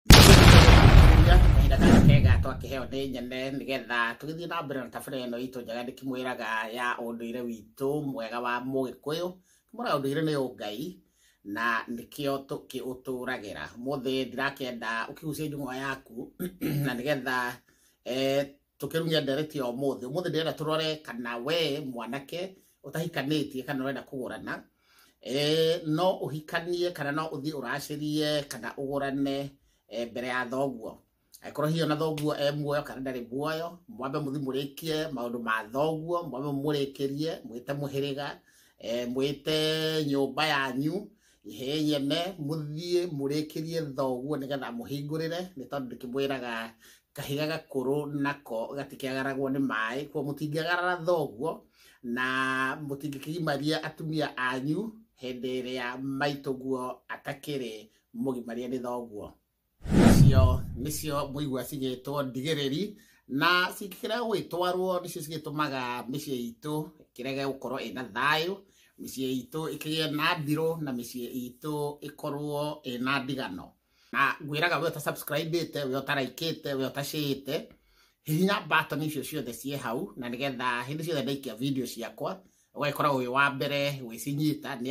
kahinda karĩa kega twakĩheo nĩ nyene nĩgetha tũgĩthiĩ na mbere na tabarĩra ĩno itũ njega ndĩkĩmwĩraga ya ũndũire witũ mwega wa mũgĩkũyũ kĩmwĩraga ũndũire nĩ ũngai na nĩkĩo tũkĩũtũragĩra mũthĩ ndirakĩenda ũkĩgucie njũng'wa yaku na nĩgetha eh, tũkĩrugia ndereti ya ũmũthĩ ũmũthĩ ndĩrenda tũrore kana we mwanake ũtahikanĩtie kana ũrenda kũgũrana eh, no ũhikanie kana no ũthiĩ ũracĩrie kana ũgũrane eh, mbere ya thoguo angĩkorwo hihi ona thoguo e muoyo kana ndarĩ muoyo mwambe mũthi mũrĩkie maũndũ ma thoguo mwambe mũrĩkĩrie mwĩte mũhĩrĩga eh, mwĩte nyũmba yanyu ihei ene mũthiĩ mũrĩkĩrie thoguo nĩgetha mũhingũrĩre nĩ tondũ ndĩkĩmwĩraga kahiga gakũrũ nako gatikĩagaragwo nĩ maĩ kwa mũtingĩagarara thoguo na mũtingĩkĩgimaria atumia anyu hĩndĩ ĩrĩa maitũguo atakĩrĩ mũgimarie nĩ thoguo icio nĩcio mũigua cigĩtwo ndigĩrĩri na cingĩkĩrega gũgĩtwarwo nĩcio cigĩtũmaga mĩciĩ itũ ĩkĩrege gũkorwo ĩna thayũ mĩciĩ itũ ĩkĩgĩe na ndirũ na mĩciĩ itũ ĩkorwo ĩna ndigano na ngwĩraga we ũtasubscribĩte we ũtaraikĩte we ũtacĩĩte hihinya button icio ciothe ciĩ hau na nĩgetha hĩndĩ ciothe ndaikia video ciakwa ũgagĩkoragwo wĩ wa mbere gwĩcinyita nĩ